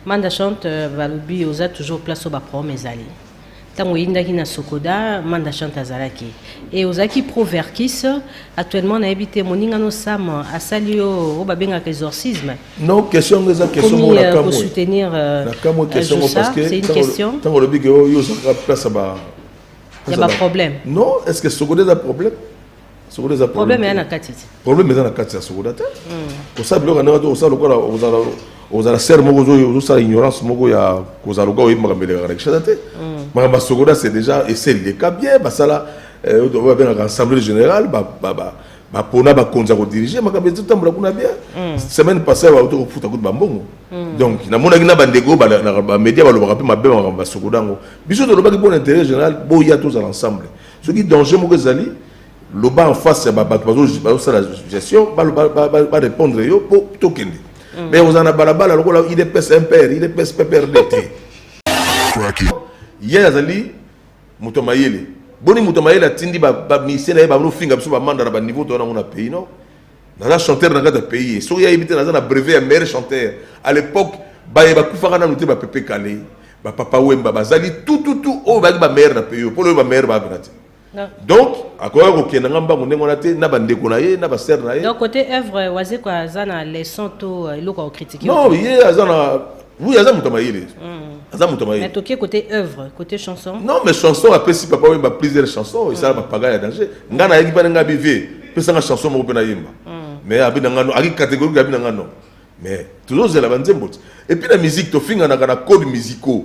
Manda chante balobi oza toujours place oyo baproblème ezali ntango oyindaki na sokoda manda chante azalaki e ozalaki pro verkis actuellement nayebi te moninga no sam asali yo oyo babengaka exorcisme non question yango eza questionkosoutenir euh, euh, c'est une question ntango olobi ke oh, yo ozalaka place ya ba ya baproblème non est ce que sokoda eza problème sokola eza problème eza na kati te problème eza na kati ya sokola te kosala biloko ndenge te osala lokola ozala ozala sere moko ozosala ignorance moko ya kozala lokola oyebi makambo elekaka na kishasa te makambo ya sokola c'est déjà eseli leka bien basala oyo babengaka assemblée générale bapona bakonzi ya kodirige makambo ezotambola kuna bien semaine passé bauti kofuta kutu bambongo donc namonaki na bandeko bamédia balobaka mpe mabe makambo ya sokola yango biso tolobaki bon intérêt général boya tozala ensemble soki danger moko ezali loba en face ya bato bazosala gestion barépondre yo mpo tokende mm. mais ozala na balabala lokola idps mpr idps pprd te ye azali moto ya mayele boni moto ya mayele atindi bamisie na ye banofinga biso bamanda na baniveau toya nango na pays non naza chanteur na kati ya pays soki ye ayebi te naza na brevet ya meilleur chanteur à l'époque baye bakufaka nanu te bapepe kale bapapa wemba bazali tututu oyo bayaki bameilleur na pays oyo mpo na oyo bameilleur baabina te donc akoya kokenda nga mbangu ndenge wana te na bandeko na ye na basere na ye donc côté œuvre wazekwa aza na leçon to euh, eloko ya kokritike non ye aza na Oui, aza moto mayele. Aza moto mayele. Mais tokie côté œuvre, côté chanson. Non, mais chanson apesi papa oui ba plusieurs chansons, ça ba paga ya danger. Nga na yaki bana nga bive, pesa nga chanson moko pena yemba. Mais abi nga no, aki catégorie abi nga no. Mais toujours zela ba nzembo. Et puis la musique to finga na kana code musicaux.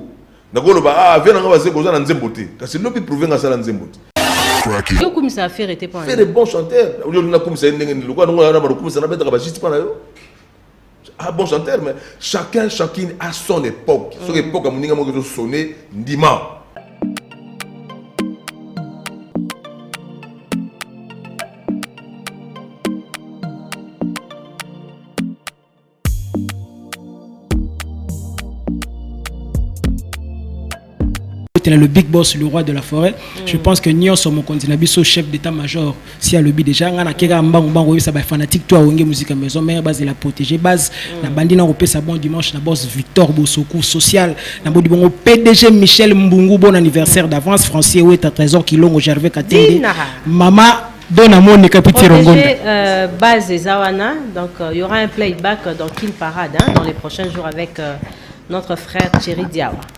Na ko loba ah viens nga baze koza na nzembo te. Kasi lobi prouver nga sala nzembo. Cracky. Yo kumisa affaire était pas. Fait de bons chanteurs. Yo na kumisa ndenge ni lokwa ngo na ba kumisa na betaka ba juste pas na yo. ah bon chanteur mais chacun chacune a son époque mm. soki époque ya moninga moko ezosone ndima kotela le big boss le roi de la forêt mm. je pense que nyonso mokonzi na biso chef d'état major si alobi déjà ngai nakeka mbangu mbangu oyebisa bafanatique to awenge muzika maison mare bazela protégé base mm. nabandi na kopesa bon dimanche na boss victor bosoku social nabodi bongo pdg michel mbungu bon anniversaire d'avance francier weta trésor kilongo gervais katende mama dona moni kapiti rongonda euh, base eza wana donc euh, il y aura un playback dans kin parade hein, dans les prochains jours avec euh, notre frère thierry diawa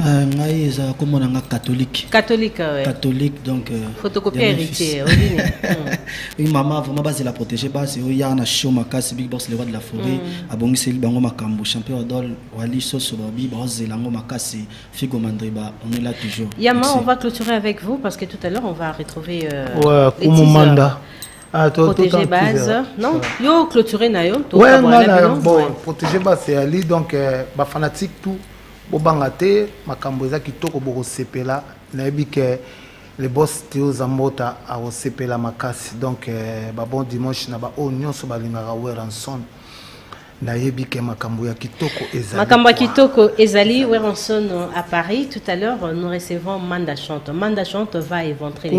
Euh, ngai ezala kombo na nga catholique catholique ouais. catholique donc euh, photocopie héritier oui hmm. mama vraiment bazela protégé basi oya na show makasi big boss le roi de la forêt mm. abongiseli bango makambo champion adol wali soso babi bazela yango makasi figo mandriba on est là toujours yama on va clôturer avec vous parce que tout à l'heure on va retrouver euh, ouais, les kumumanda Ah, toi, protéger base non ouais. yo clôturer na yo ouais, non, non, bon, protéger base c'est ali donc euh, ba fanatique tout Bobanga te makambo eza kitoko bokosepela nayebi ke le boss Theo Zambota akosepela makasi donc eh, ba bon dimanche na ba oyo nyonso balingaka Weranson nayebi ke makambo ya kitoko ezali makambo ya kitoko ezali Weranson à Paris tout à l'heure nous recevons Manda Chante Manda Chante va éventrer les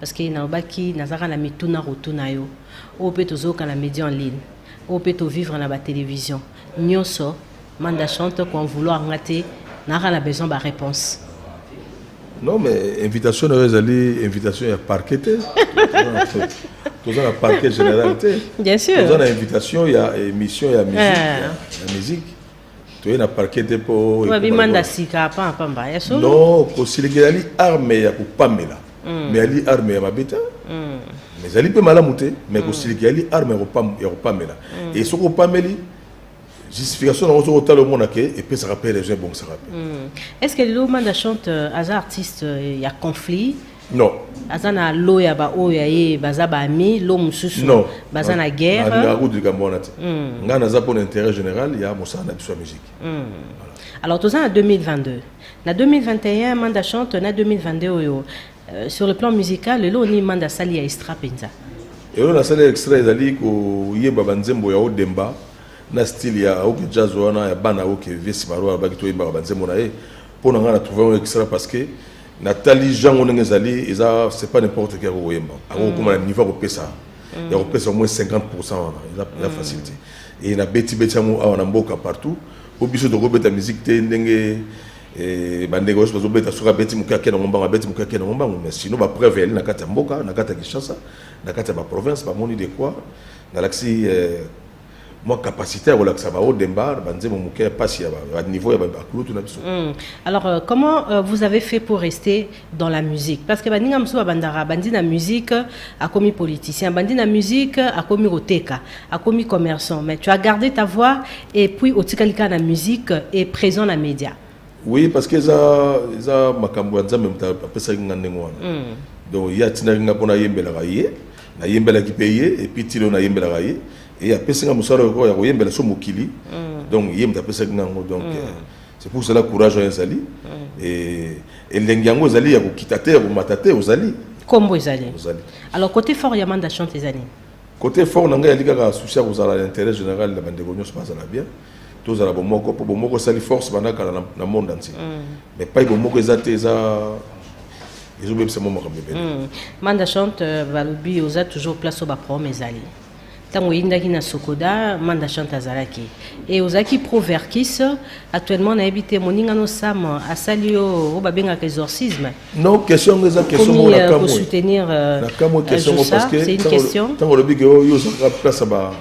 parce que nalobaki nazalaka na mituna kotuna yo oyo mpe tozoyoka na media en ligne oyo mpe tovivre na batelevision nyonso manda chante koen vouloir nga te naaka na besoin baréponse non mais invitation na yo ezali invitation ya parquet te toza na parquet général te bien sûr toza na invitation ya émission ya musique eh. ya musique toye na parquet te mpo babimanda sika apa pamba ya solo no kosilikela ali arme ya kopamela mm. mais ali arme ya mabe te mm. mais ezali mpe malamu te mais mm. kosilikela ali arme ya kopamela e soki opameli justification nango soki otala omona ke epesaka mpe raison ebongisaka mpe est ce que lilomanda chante euh, aza artiste euh, ya conflit non aza na lo ya baoyo ya ye baza baami lo mosusu non baza na guerre nalingaka kutu likambo wana te hmm. ngai naza mpo na intérêt général ya mosala na biso ya musique hmm. alors toza na 2022 na 2021 manda chante na 2022 oyo euh, sur le plan musical lelo oni manda asali ya extra mpenza elo nasali extra ezali koyeba banzembo ya odemba na style ya oke jazz wana ya bana oke vieux simaro alobaki toyembaka banzembo na ye mpo na ngai na trouve yango extra parce que Natali Jean ndenge ezali eza c'est pas n'importe qui ako koyemba. Ako mm. kokoma na niveau ako pesa. Mm. Ya kopesa au moins 50% wana. Eza eza mm. facile te. Et na beti beti yango awa na mboka partout. Po biso toko beta musique te ndenge eh, bandeko nyonso bazobeta soki abeti moke ake nango mbango abeti moke ake nango mbango mais sinon bapreuve eyali na kati ya mboka na kati ya kinshasa na kati ya baprovince bamoni de quoi nalakisi eh, mwa capacité ya kolakisa ba odembar banzembo moke ya mpasi ya baniveau ya bakulutu na biso hmm. alors euh, comment euh, vous avez fait pour rester dans la musique parce que baninga mosusu babandaka bandi na musique akomi politicien bandi na musique akomi koteka akomi commerçant mais tu as gardé ta voix et puis otikali kaka na musique et présent na média oui parce que eza eza makambo ya nzambe moto apesaki nga ndenge wana hmm. donc ye atindaki nga mpo nayembelaka ye nayembelaki mpe ye epuis ti lelo nayembelaka ye e apesi nga mosala oyo ya koyembela so mokili mm. donc ye moto apesaki nga yango donc mm. euh, c'est pour cela courage oyo ezali mm. e, elengi yango ezali ya kokita te ya komata te ozali nkombo ezali ozali alors côté fort ya manda chante eza nini côté fort na ngai yali kaka souci ya kozala na intérêt général na bandeko nyonso bazala bien tozala bomoko mpo bomoko esali force banda kala na, na monde entier mm. mais pai bomoko eza te eza ezobebisa mwa makambo ebele mm. manda chante euh, balobi oza toujours place oyo baproblème ezali ntango oyindaki na sokoda manda chante azalaki e ozalaki pro verkis actuellement nayebi te moninga no sam asali yo oyo babengaka exorcisme non question yango eza question moko euh, nakamwe nakamwe euh, question yango parce que ntango olobi ke yo ozalaka place ya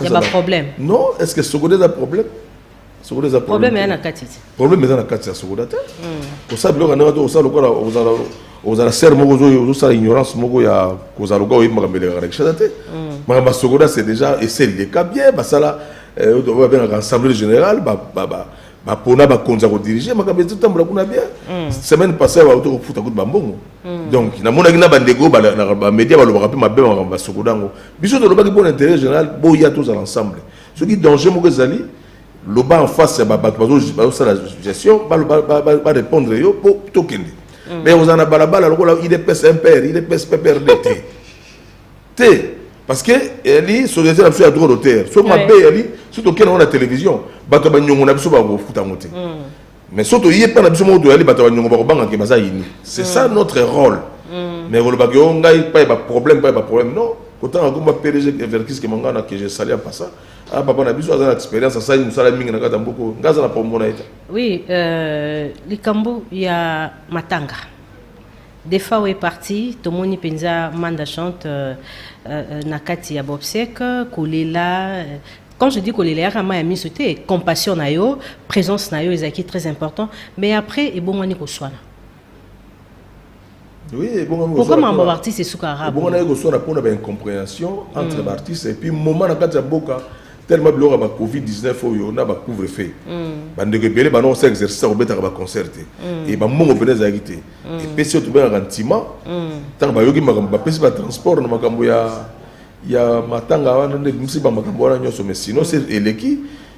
ya ba problème non est ce que sokoda eza problème sokoda eza problème eza na kati te problème eza na kati ya sokoda te kosala biloko ndenge to kosala lokola ozala ozala sere moko ozosala ignorance moko ya kozala lokola oyebi makambo elekaka na kishasa te makambo ya sokoda c'est déjà eseli leka bien basala euh, oyo babengaka assemblée générale bapona bakonzi ya kodirige makambo ezotambola kuna bien mm. semaine passé bauti kofuta kutu bambongo Hmm. donc namonaki na bandeko na bamedia balobaka mpe mabe makambo basokoda yango biso tolobaki mpo na intérêt général boya tozala ensemble soki danger moko ezali loba en face ya bato bazosala gestion barépondre yo mpo tokende hmm. mais ozala na balabala lokola idps mpr idps pprd te te parce que eli société na biso ya droit d'auteur soki mabe eli soki tokenda yango na télévision bato ya banyongo na biso bakofuta yango te hmm. mais soki toye epai na biso moko toyali bato ya banyongo bakobanga ke baza ini c'est ça mm. notre rôle mm. mais kolobaka yo ngai epai baproblème epai baproblème non kotanga komba pdg verkis kemanga na keje sali apa ça ah papa na biso aza na expérience asali mosala mingi na kati ya mboka oyo ngai aza na pomona ye te oui euh, likambo ya matanga defa oyo eparti tomoni mpenza manda chante euh, euh, na kati ya bobsec kolela quand je dis kolela yaka ma ya miso te compassion na yo présence na yo ezalaki très important mais après ebongwani koswana oui, pourquoi mambo baartiste esuka arabe ebongo naye koswana mpo na baincompréhension entre mm. baartiste epuis moment na kati ya mboka tellement biloko ya ba covid 19 oyo na bacouvre feu mm. bandeko ebele bana osa exercice ya kobetaka baconcert te mm. e bambongo mpena ezalaki te epesi oyo tobengaka ntima ntango bayoki makambo bapesi batransport na makambo ya ya matanga wana nde ebimisi bamakambo wana nyonso mais sinon se eleki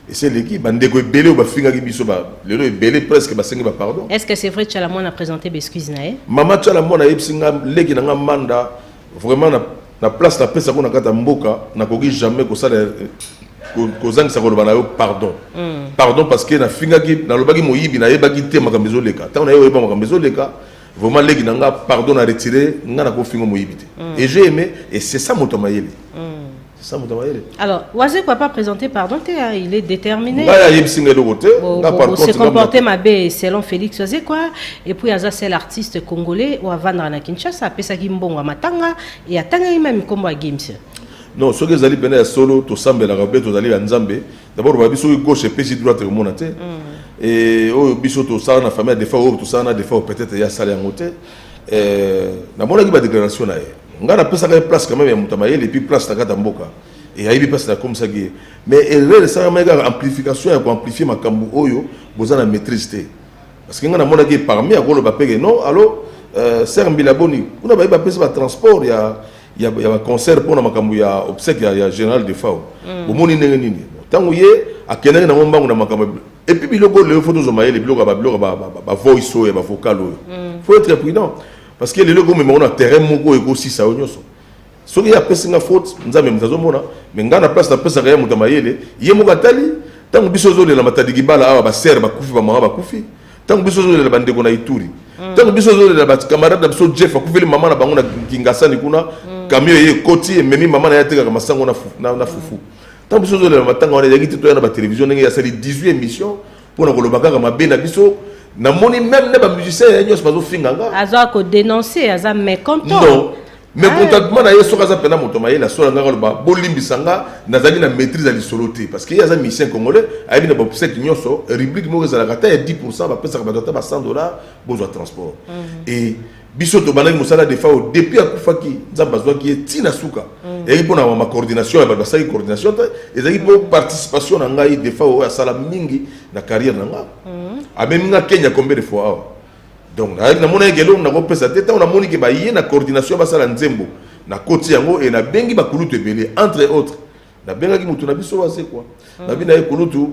esi eleki bandeko ebele oyo bafingaki biso ba- lelo ebele presque basengi bapardon Est-ce que c'est vrai Tchala Mwana a présenté Bescuise na ye mama tyala mwana ayebisi nga leki na nga manda vraiment na, na place napesa ko na kati ya mboka nakoki jamais kosala eh, ko- kozangisa koloba na yo pardon pardon parce que nafingaki nalobaki moyibi nayebaki te makambo ezoleka ntango naye oyeba makambo ezoleka Vraiment leki na nga pardon na retirer nga na ko fingo moyibi te. Mm. Et j'ai aimé et c'est ça moto mayele. Mm. C'est ça moto mayele. Alors, Wazé quoi pas présenter pardon te hein, il est déterminé. Nga ya yebisi nga eloko te. Nga par contre se comporter mabe selon Félix Wazé quoi et puis aza seul artiste congolais ou avandra na Kinshasa apesa ki mbongo matanga et atanga ye même kombo ya Gims. Non, soki ezali pena ya solo tosambelaka mpe tozali ya Nzambe D'abord ba biso gauche epesi droite komona te. Et oyo biso to sala na famille de fois oyo to sala na de fois peut-être ya sala yango te. Euh na mona ki ba déclaration na ye. Nga na pesa ka place quand même ya muta mayele et puis place na kata mboka. Et ayebi place na comme ça qui mais erreur ça ma ga amplification ya ko amplifier makambu oyo boza na maîtrise te. Parce que nga na mona ki parmi akolo ba pege non alors euh Serre Mbila Boni kuna ba ba pesa ba transport ya ya ba concert pona makambo ya obsèque ya, ya général Defao mm. bomoni ndenge nini ntango ye akendaki nango mbangu na makambo et puis biloko lelo fo tozwa mayele biloko ba biloko ba ba voice oyo ba vocal oyo mm. faut être prudent parce que lelo komema ngo na terrain moko ekosisa yo nyonso soki ye apesi nga faute nzambe moto azomona me ngai na place napesaka ye moto ya mayele ye moko atali ntango biso ozolela matadikibala awa basere bakufi bamama bakufi Tango biso zo lela bandeko na Ituri. Mm. Tango biso zo lela ba camarade na biso Jeff akufeli mama na bango na Kingasani kuna. Mm. Camion ye koti ememi mama na ye atekaka masango na fufu. Na, na fufu. Mm. Tango biso zo lela matanga wana yaki titoya na ba télévision ndenge ya sali 18 émissions pona koloba kaka mabe na biso. Na moni même na ba musiciens ya nyos bazo finga nga. Azo ko dénoncer aza mécontent. Non. mais eh. contentement na ye soki aza mpena moto mayele asola ngaka aloba bolimbisa nga nazalaki na maîtrise ya lisolo te parce que ye aza musicien congolais ayebi na baobsèque nyonso rubrique moko ezalaka ata ya 10 pourcent bapesaka bato ata ba 100 dollars bozwa transport mhm. e biso tobandaki mosala de fao depuis akufaki nzambe azwaki ye ti na suka mhm. ezalaki mpo na ma coordination ya bato basalaki coordination te ezalaki mpo participation na ngai de fao oyo asala mingi na carrière na nga mhm. amemi nga kenya combien de fois awa Donc nayaki namona eke eloko nakopesa te ntango namoni ke baye na coordination basala nzembo nakoti yango e nabengi bakulutu ebele entre autres nabengaki moto na biso wazekwa mm. nabi na ye kulutu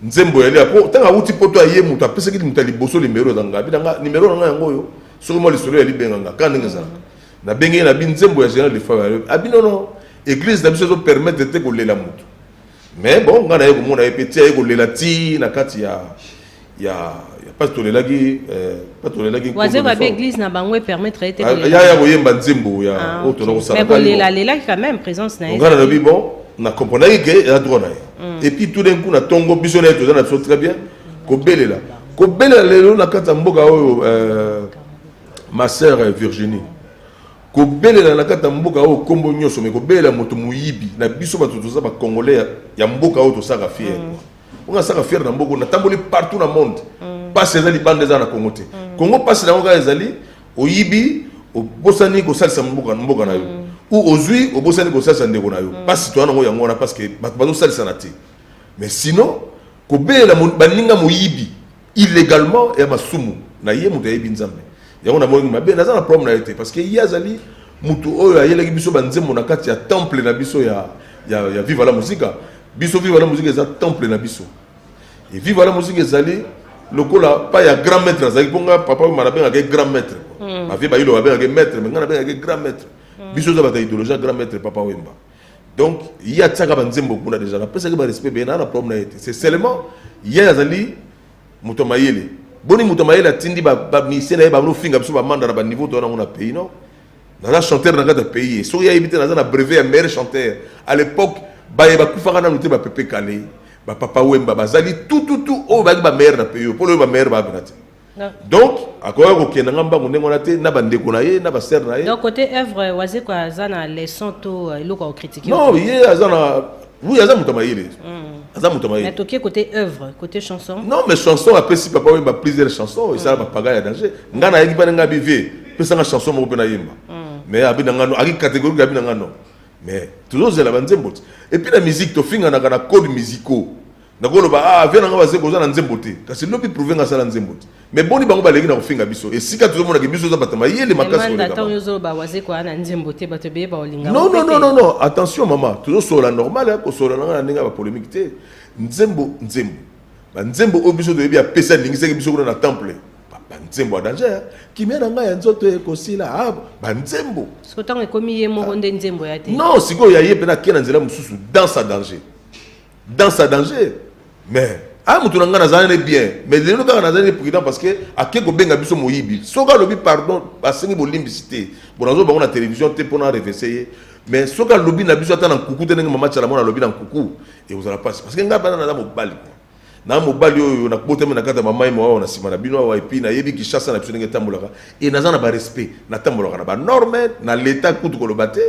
nzembo yali po ntango awuti poto aye moto apesaki moto ya liboso nimero eza ngai bina nga nimero na ngai yango oyo soki mwa lisolo ya libenga nga kaka ndenge ezalaka mm-hmm. nabengi ye nabi nzembo ya general de fave abi nono eglise na biso ezo permettre te kolela moto mais bon ngai naye komona ye mpe ti aye kolela ti na kati ya ya ya pasi tolelaki eh, pasi tolelaki wazeko abe église na bango epermettre ete ah, ya ya koyemba nzembo ya ah, oyo tona kosala mais kolela lelaki quand même présence na ye ngai nalobi bon na comprenaki ke eza droit na ye mm. et puis tout d'un coup na tongo biso na ye toza na biso très bien kobelela kobelela lelo na kati ya mboka oyo euh, ma sœur euh, virginie kobelela na kati ya mboka oyo nkombo nyonso me kobelela moto moyibi na biso bato toza bacongolais ya mboka oyo tosaka fiere mm. Mpo nga saka fier na mboko na tamboli partout na monde. Mm. Pasi eza libanda eza na Congo te. Mm. Congo pasi na ngoka ezali oyibi obosani kosalisa mboka mboka na yo. Mm. Ou ozui obosani kosalisa ndeko na yo. Mm. Pasi toana ngo yango wana parce que bato bazosalisa na te. Mais sinon kobelela baninga moyibi illegalement ya masumu na ye moto ayebi nzambe yango na molingi mabe naza na problème na ye te parce que ye azali moto oyo ayelaki biso banzembo na kati ya temple na biso ya, ya, ya viva la musica biso viva la musica eza temple na biso e viva la musica ezali lokola pa ya grand maître azalaki mpo ngai papa oyo manabengaka ye grand maître hmm. bavie bayilo babengaka ye maître me ngai nabengaka ye grand maître hmm. biso eza bato ya idéologie ya grand maître papa wemba donc ye atiaka banzembo kuna deja napesaki barespect beye naa na problème na ye te c'est seulement ye azali moto ya mayele boni moto ya mayele atindi bamisie na ye banofinga biso bamanda na baniveau toya nango na pays non naza chanteur na kati ya pays ye soki ayebi te naza na brevet ya meilleur chanteur à l'époque baye bakufaka nanu te bapepe kale bapapa wemba bazali tututu oyo bayaki bameilleur na pays oyo mpo loyo bameilleur baabina te donc akoya kokenda nga mbangu ndenge wana te na bandeko na ye na basere na ye donc kote œuvre wazeko aza na leçon to euh, eloko akokritike non ye aza na oui aza moto mayele hmm. aza moto mayele toke kote œuvre kote chanson non mais chanson apesi papa oyemba plusieurs chansons esala hmm. bapaga ya danger nga nayaki bana nga bive pesanga chanson moko mpe nayemba hmm. mais abi na ngano aki catégorie abi na ngano mais tozozela banzembo ti epuis na musique tofinganaka na code musicaux Nakoloba ah vie nanga bazeko oza na nzembo te kasi lobi prouve nga sala nzembo te mais boni bango baleki na kofinga biso esika tozomona ke biso oza bata mayele makasi koleka bango. Ntango ozoloba wazeko ana nzembo te bato ebele baolinga non non non non non attention mama tozosolola normal ya kosolola nanga na ndenge ya bapolemike te nzembo nzembo banzembo oyo biso toyebi apesa alingisaki biso kuna na temple banzembo ya danger kimia na ngai ya nzoto ekosila ah, banzembo soki ntango ekomi ye moko nde nzembo ya te non sikoyo ya ye mpe nake na nzela mosusu danse ya danger Danse ya danger mais aya moto na ngai nazali ne bien mais lelo kaka nazali ne prudent parce que ake kobenga biso moyibi soki alobi pardon asengi bolimbisi te bonazo bango na télévision te mpo na revese ye mais soki alobi na biso ata na nkuku te ndenge mama chalamona alobi na nkuku ekozala mpasi parce que ngai bana naza mobali mwa na mobali oyo nakotami na kati ya mamai mwa awa na nsima na bino awa epuis nayebi kishasa na biso ndenge etambolaka e naza na barespect natambolaka na banorme na leta kutu koloba te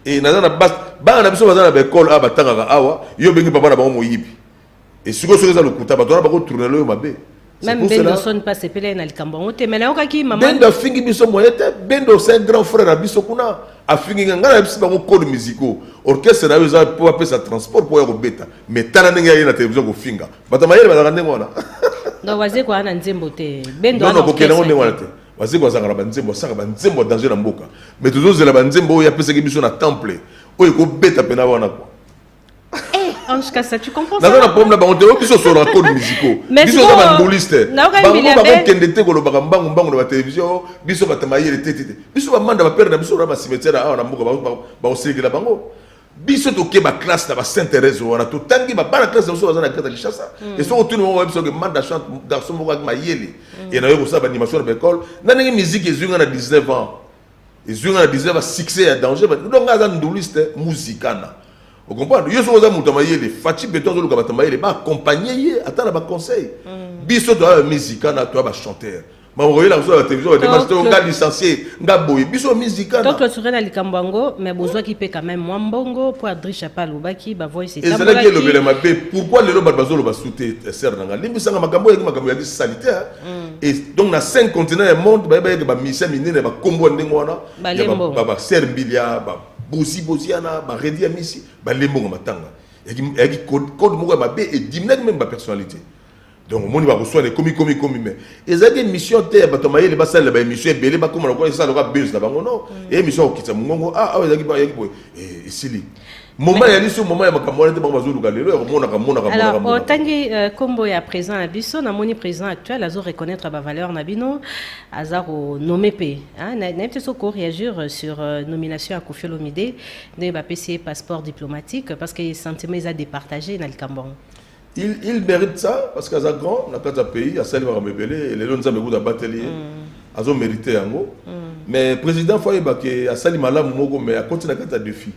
e naza na base bana na biso baza na baekole awa batangaka awa yo obengi papa na bango moyibi esiko soki eza lokuta bato wana bakotournele oyo mabe Même Bendo sonne pas c'est pele na likambo yango te mais na yokaki maman Bendo afingi biso moyen te Bendo c'est un grand frère à biso kuna afingi nga na biso bango code musicaux orchestre na yo eza po apesa transport po ya kobeta mais tala ndenge ye na télévision kofinga bato mayele bazalaka ndenge wana donc waze kwa na nzembo te Bendo non non kokende ndenge wana te Wazekwa azalaka na banzembo, asaka banzembo ya danger na mboka, mais tozozela banzembo oyo apesaki biso na temple oyo ekobeta mpe na wana kwa Ange Kassa, tu comprends ça? Naza problème bango te, oyo biso solo code musicaux. Biso za ba nduliste. Bango ba ko kende te ko lobaka mbangu mbangu na ba télévision, biso ba tamayele te te. Biso ba manda ba père na biso na ba cimetière awa na mboka ba ba osekela bango. biso toke ba classe na ba saint therese wana totangi ba bana classe na biso baza na greta kinshasa mm. esoko tuni moko bayebisa oke manda chante garçon moko aki mayele mm. e nayo kosala baanimation na baekole na ndenge miziki ezwi nga na 19 ans ezwi nga na 19 ans succès ya danger donc nga aza nduliste muzikana okomprendre yo soki oza moto ya mayele faci beton azoluka bato ya mayele baakompagne ye ata na baconseil mm. biso toya bamizikana toya bachanteur bakoyela kozala batelevision bademasi to nga licencie nga boye biso mizikana to clôturela likambo yango mais bozwaki mpe quand même mwa mbongo mpo adrisha mpe alobaki bavoice ezalaki elobela mabe pourquoi lelo bato bazoloba su te eh, ser na nga limbisanga makambo oyaki makambo yaki salite mm. et donc na cinq continent ya monde baye bayeke bamisia minene bakombo ya ndenge wana baser mbilia babosi bosiana baredi ya misi balembongo matanga yaki code moko ya mabe ediminaki meme bapersonnalité donc omoni bakoswana ekomi komi komi mais ezalaki émission te ya bato ya mayele basalela baémission ebele bakoma lokola esala lokola buse na bango no mm. émission ya kokitisa mongongo a ah, awa ezalaki bayaki boye eh, esili moma ya liso moma ya makambo wana te bango bazoluka lelo ya komonaka monaka otangi euh, nkombo ya président na biso namoni président actuel azo reconnaître bavaleur na bino aza konome mpe ah, nayebi te soki koréagir sur euh, nomination ya kofi olomide ndenge bapesi ye passeport diplomatique parce que sentiment eza départage na likambo yango il, il mérite ça parce que aza grand na kati ya pays asali makambo ebele lelo nzambe kutu abateli ye mm. azo mérite yango mm. mais président fo ayeba ke asali malamu moko mais akoti na kati ya défi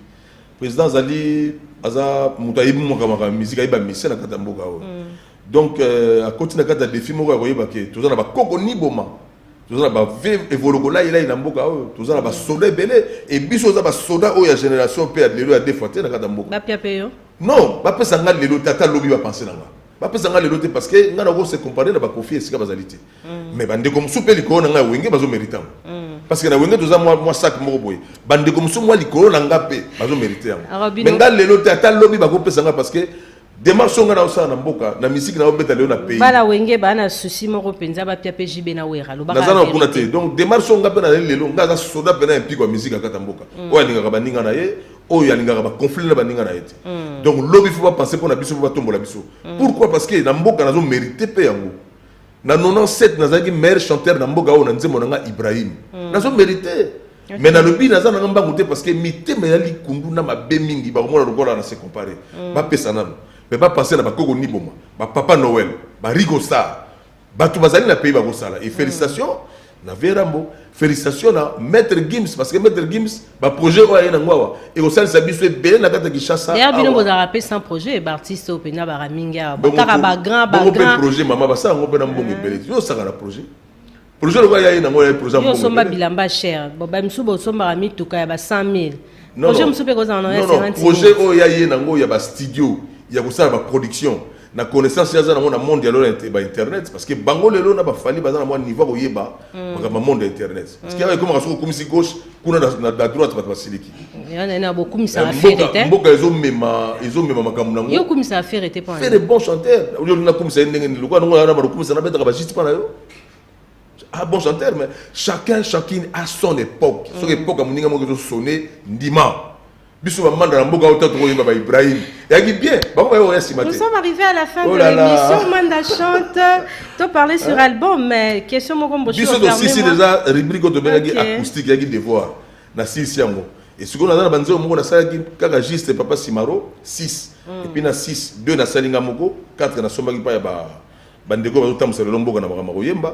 président azali aza moto ayebi mokamaka musike ayeba mise na kati ya mboka oyo mm. donc euh, akoti na kati ya défi moko ya koyeba ke toza na bakoko ni boma toza na bave evolokolailai na mboka oyo toza na basoda ebele e biso oza basoda oyo ya génération mpe ya lelo ya defa te na kati ya mboka Non, bapesa nga lelo te ata lobi bapense na nga. Bapesa nga lelo te parce que nga nako se comparer na bakofi esika bazali te. Mm. Mais bandeko mosusu mpe likolo na ngai wenge bazo merite yango. Mm. Parce que na wenge toza mwa mwa sac moko boye. Bandeko mosusu mwa likolo na nga mpe bazo merite yango. Mais nga lelo te ata lobi bakopesa nga parce que demarche oyo ngai naosala na mboka na misiki naobeta lelo na pays bala wenge baa na souci moko mpenza bapia mpe jb na wera naza na kuna te donc demarche oyo ngai mpe naleli lelo ngai aza soda mpe na ya mpiko ya misiki akata mboka mm. oyo alingaka baninga na ye oyo alingaka ba conflit na baninga na ye te mm. donc lobi fo bapense mpo na biso mpo batombola biso mm. pourquoi parce que na mboka nazo mérite mpe yango na 97 nazalaki meilleur chanteur na mboka oyo na nzembo na nga ibrahim mm. nazo mérite okay. mais nalobi naza nanga mbangu te parce que mitema ya likundu na mabe mingi bakomona lokola na se compare mm. bapesa nano mais bapense na bakoko niboma bapapa noel barigo star bato bazali na pays bakosala et félicitation mm. na vieux rambo félicitation na maître gims parce que maître gims baprojet oyo aye nango awa ekosalisa biso ebele na kati ya kinshasa ya bino bozalaka mpe sans projet baartiste oyo mpenza baka mingi awa bakaka bagrand bagrand projet mama basala yango mpe na mbongo ebele yo osaka na projet projet lokola yaye nango yaye projet osomba bilamba cher bamisusu bosombaka mituka ya ba 100 000 projet mosusu mpe kozala na projet oyo ya ye nango ya bastudio ya kosala baproduction na connaissance ya zana mona monde ya lola ba internet parce que bango lelo na ba fali baza na mwa niveau ko yeba mm. makambo monde ya internet mm. parce que ayo koma soko kumisi gauche kuna na na la droite bato basiliki yana na bokumisa eh, affaire te mboka ezo mema ezo mema makambo nango yo kumisa affaire te pas fait bon chanteur yo na kumisa ndenge ni lokwa nango na ba kumisa na betaka ba juste pas na yo ah bon chanteur mais chacun chacune a son époque mm. son époque amuninga moko ezo sonner ndima biso bamanda na mboka ota tokoyeba ba ibrahim yaki bien bango oya sima te nous sommes arrivés à la fin oh de l'émission manda chante to parler sur hein? album mais question moko mboshi biso tosisi déjà rubrique oyo tobengaki acoustique yaki devoir na sisi yango esikoyo naza na banzembo moko nasalaki kaka juste papa simaro 6 hmm. epuis na 6 2 nasali nga moko 4 nasombaki mpa ya bandeko bazotambwisa lelo mboka na makambo ya koyemba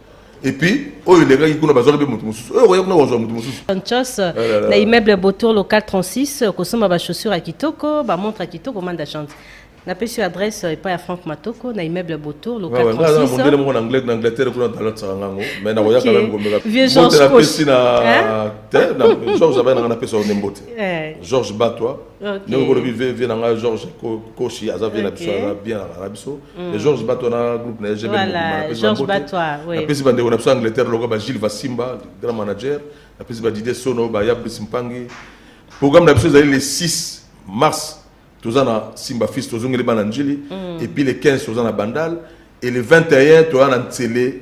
et puis oyo elekaki kuna bazwaki mpe moto mosusu oyo okoya kuna kozwa moto mosusu Kinshasa, Eh na immeuble Botour local 36 okosomba ba chaussures ya kitoko ba montre ya kitoko manda chance napesi yo adresse epai ya frank matoko na immeuble Botour local Ouais, ouais, nga naza na mondele 36 moko na Anglet- na angleterre kuna nalatisaka ngango mais nakoya Ok. kala mikomeka Vieux Georges Koch. Hein? george abaya nanga napesa yo nde mbote Eh. george batwa ndenge kolobi vie na ngai george koshi aza vie na biso aza bien alaka na biso e george bato na groupe na egmnapesi bandeko na biso ya angleterre lokola ba gilles vasimba grand manager napesi ba didie sono ba yabris mpangi programme na biso ezali le 6 mars toza na simba fils tozongeli bana njili mm. epuis le 15 toza na bandal et le 21 toza na nsele